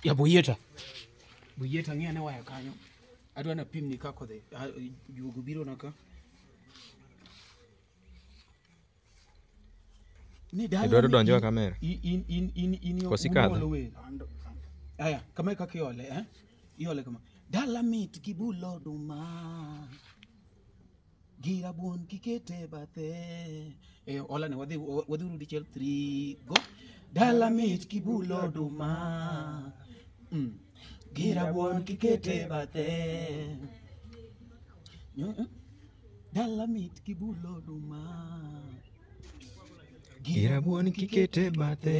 ya boyeta boyeta ng'e ane waya kanyo adwa na pimni kaka odhi Ah, juogo biro na ka ni dala Idwaro ni- donjo e kamera? in- in- in- in- in yo- Kosi kadho? unuolo welo. aya kama e kaka iole eh? iole kama dala mit gi bulo oduma gi rabuon kikete bathe e ola ne wadhi wadhi uru dichiel 3 go dala mit kibulo duma mm. gi rabuon kikete bathe Mm, mm. dala mit kibulo duma gi rabuon kikete bathe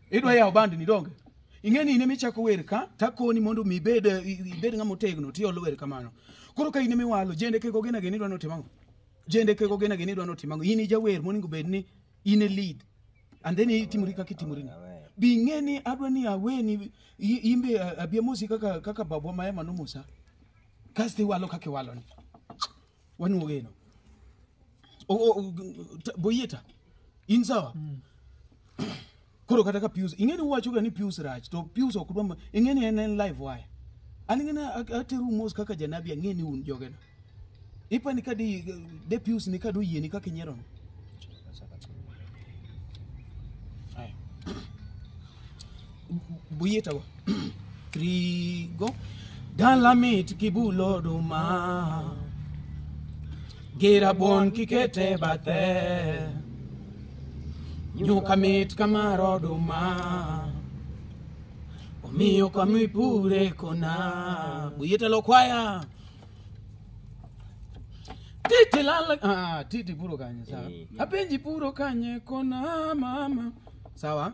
idwa yawo band ni donge ing'e ni in ema ichako wer ka takoni mondo mi ibed eh, i- ibed ng'ama otegno tiolo wer kamano koro ka in ema iwalo jende kego gena geni idwa ni otim ang'o jende kego gena geni idwa ni otim ang'o in ijawer monego bed ni in e lead and then itimori kaka itimori ni bi ing'e ni adwa ni aweni i- imbe eh, abiamosi kaka kaka babwa ma ema nomosa kasto iwalo kaka iwaloni wanuo geno O- o- o- ta- boyie ta in sawa koro kata ka pius ing'eni uwachoga ni pius rach to pius ok dwa ma- ing'eni en en live wire an ing'eni a- ateru mos kaka janabi ang'eni un jogena ipani ka di de pius ni ka doyieni kaka inyerono buyitago trigo dalamit kibulo duma gira bon kikete bathe nyuka mit kamaro duma omiyo kamipure kona buyitalo kwaya titi lala ah, titi puro kanye sawa Eh, yeah. apenji puro kanye kona mama sawa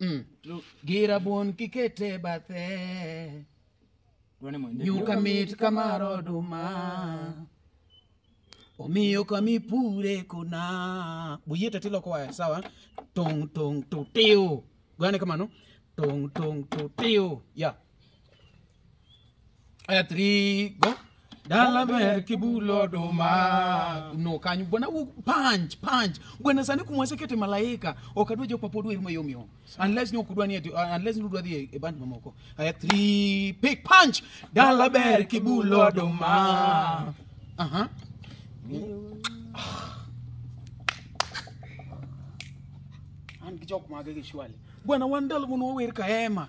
Mm. To gi rabuon kikete bathe Tuone mwenyewe. nyuka mit kamar oduma omiyo kamipure kuna buyeta tiloko waya sawa tong tong tutiu gane kamano tong tong tutiu ya Aya three go. Dala ber kibulo duma. No kanyo bwana u punch punch. Bwana sani kumwase kete malaika. Okadwa jok mapod wer ma yomyo. Unless ni okudwa ni ati- uh, unless ni udwa dhi e- e band mamoko. Aya three pick punch. Dala ber kibulo duma. Aha. An gi jok mage gi shwali. Bwana wan dala mun wawer ka ema.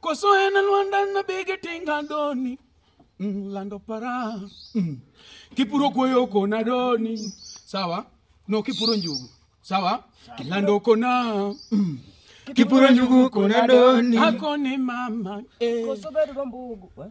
Koso en Lwanda na bege tinga doni mm, lando para mm. kipuro kuoyo kona doni sawa no kipuro njugu sawa kilando kona mm. kipuro njugu kona doni akone mama eh. Koso bedo rombugu. Eh?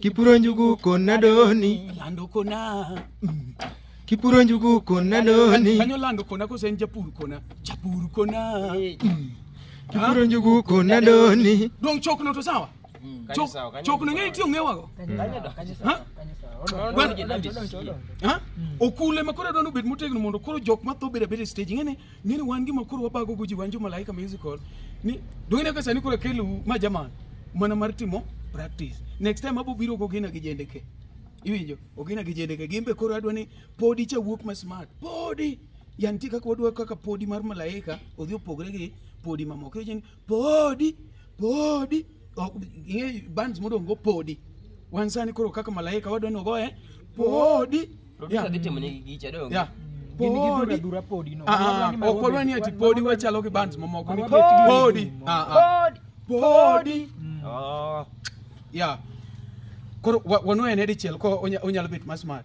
kipuro njugu kon nadoni lando kona kipuro njugu kon nadoni kanyo lando kona kose en japur kona japur kona kipuro njugu kon nadoni dong chokno to sawa Chok- sawa, kanyo chokno ng'e itiyo ng'ewago Kanyo do, kanyo sawa, Ha? kanyo sawa. Odong- Gwen- odong gi Davis. Ha? okule ma koro adwani obed motegno mondo koro jok matho bedo abeda e stage ing'e ni Ng'e ni wan gima koro wabago go ji wan jo Malaika Musical ni dong'e ka sani koro kelu ma jaman mana mar timo practice. Next time abo biro go gina gi jende ke. Iwinjo? Ogina gi jende ke. Gimbe koro adwa ni podi cha wuok ma smart. Podi! Yanti kaka wadwa kaka podi mar Malaika odhi opogre gi podi mamoko. Iwinjo ni podi podi Ok, ing'e bands modong' go podi wan sani koro kaka malaika wadwa ni ogoye podi Producer Yeah. dhi timo negi gicha dong. Yeah. Gin gi Podi. dhuradhura podi no. Ah, ah, ok wadwa ni ati podi wachalo gi bands mamoko ni Podi. podi Ah, ah. podi Oh. ya koro wa- wanwene dichiel ko onya- onyalo bet masmart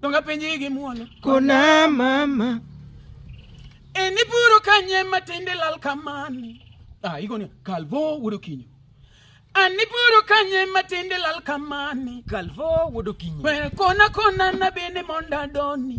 donga penji gi muolo kona mama e ni puro kanye matinde lal kamani ah igoni kalvo wudo kinyo ani puro kanye matinde lal kamani kalvo wudo kinyo we kona kona na bende monda doni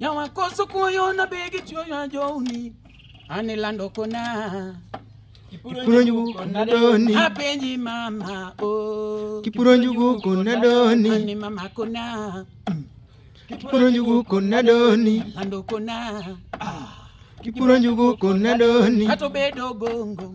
Nyawakoso kuoyo na begi chuoyo ajoni. Ani lando kona. Kipuro njugu kona doni. Apenji mama oh. Kipuro njugu kona doni. Ani mama kona. Kipuro njugu kona doni. Lando kona. Kipuro njugu kona doni. Kato bedo gongo.